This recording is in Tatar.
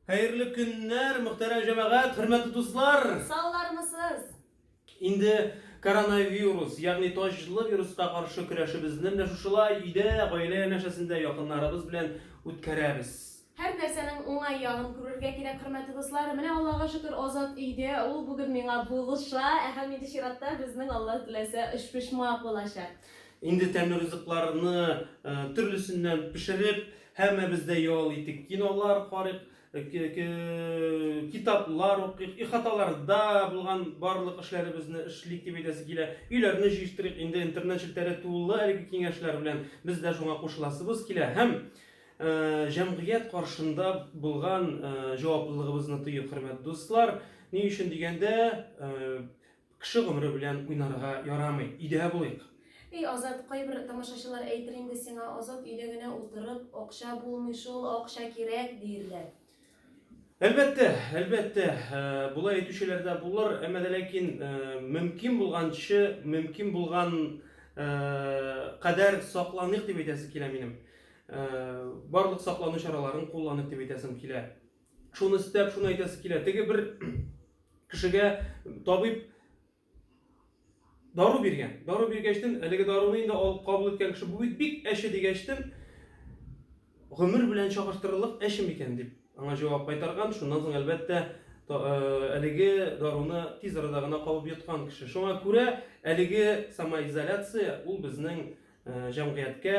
Хәерле көннәр, мөхтәрәм җәмәгать, хөрмәтле дуслар! Саулармысыз? Инде коронавирус, ягъни таҗлы вируска каршы көрәшебезне менә шушылай өйдә, гаилә янәшәсендә якыннарыбыз белән үткәрәбез. Һәр нәрсәнең уңай ягын күрергә кирәк, хөрмәтле дуслар. Менә Аллага шөкер, Азат өйдә, ул бүген миңа булыша, ә һәм инде чиратта безнең, Алла теләсә, очпочмак булачак. Инде тәмле ризыкларны төрлесеннән пешереп, Һәммәбез дә ял итик, кинолар карыйк, китаплар укыйк, ихаталарда булган барлык эшләребезне эшлик дип әйтәсе килә. Өйләрне җыештырыйк, инде интернет челтәре тулы әлеге киңәшләр белән. Без дә шуңа кушыласыбыз килә һәм җәмгыять каршында булган җаваплылыгыбызны тоек, хөрмәт дуслар. Ни өчен дигәндә, Кеше гомере белән уйнарга ярамый, өйдә булыйк. Эй Азат, кайбер тамашачылар әйтер инде сиңа, Азат өйдә генә утырып, акча булмый шул, акча кирәк, диерләр. Әлбәттә, әлбәттә, болай әйтүчеләр дә булыр, әмма дә ләкин мөмкин булганчы, мөмкин булган кадәр сакланыйк дип әйтәсе килә минем. Барлык саклану чараларын кулланыйк дип әйтәсем килә. Шуны өстәп, шуны әйтәсе килә. Теге бер кешегә табиб дару биргән. Дару биргәчтен, әлеге даруны инде алып кабул иткән кеше бу бит бик әче дигәчтен, гомер белән чагыштырырлык әче микән дип аңа җавап кайтарган. Шуннан соң әлбәттә э, әлеге даруны тиз арада гына кабып йоткан кеше. Шуңа күрә әлеге самоизоляция ул безнең э, җәмгыятькә